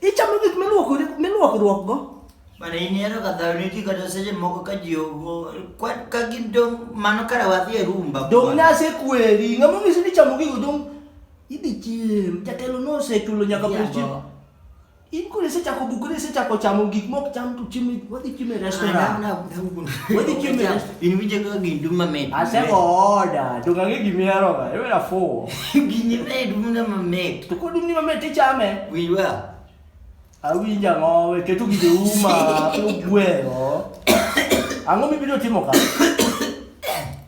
Ichamo gik miluokori miluokruokgo. Mana in ero ka dhaw ne ji kata seche moko ka ji ogo kwa- ka gin dong' mano kare wadhi e rumba Dong' kwan. nase kweri. Ng'ama onyisi ni chamo gigo dong' idhi chiem. Jatelo nosechulo nyaka pes chiem. Jambo. In koro isechako bukore isechako chamo gik mok cham to chiemo wadhi chiemo e Ah, restaurant. na- na- na- Wadhi chiemo e Cham- restaurant. In winje kaka gin dum mamit. Asego oda, to kang'e gimihero ga, iwera fuwo. Gini ne dum na mamit. To kod umni mamit tichame. Winj wa. Awinja ng'owe, keto gige uma, keto gweno. Ang'o mibiro timo ka?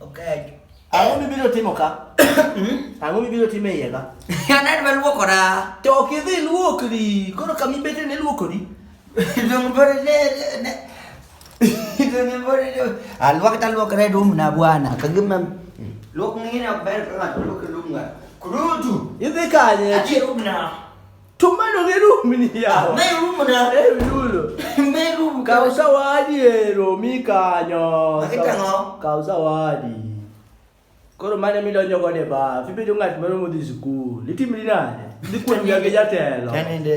Okay. Ang'o mibiro timo ka? Hmm? Ang'o mibiro timo e iye ka? Anad ma luokora. To ok idhi luokri, koro kama ibete ne luokori. Dongo bore ne, ne, Alwak talwak red room na bwana. Kagimam. Lok ngine ok ber ka ng'ato lok room nga. Kurutu. Idhi kanye? Ati room na. Tumano gi room ni yawa. Me room na. Eh yulo. Me room. Kaw sawadi ero mi kanyo. Makitang'o. Kaw sawadi. Koro mane midonjo godo e baf, ibedo ng'at moro modhi skul, itimri nade? Dhi kuom gi jatelo. Kanende.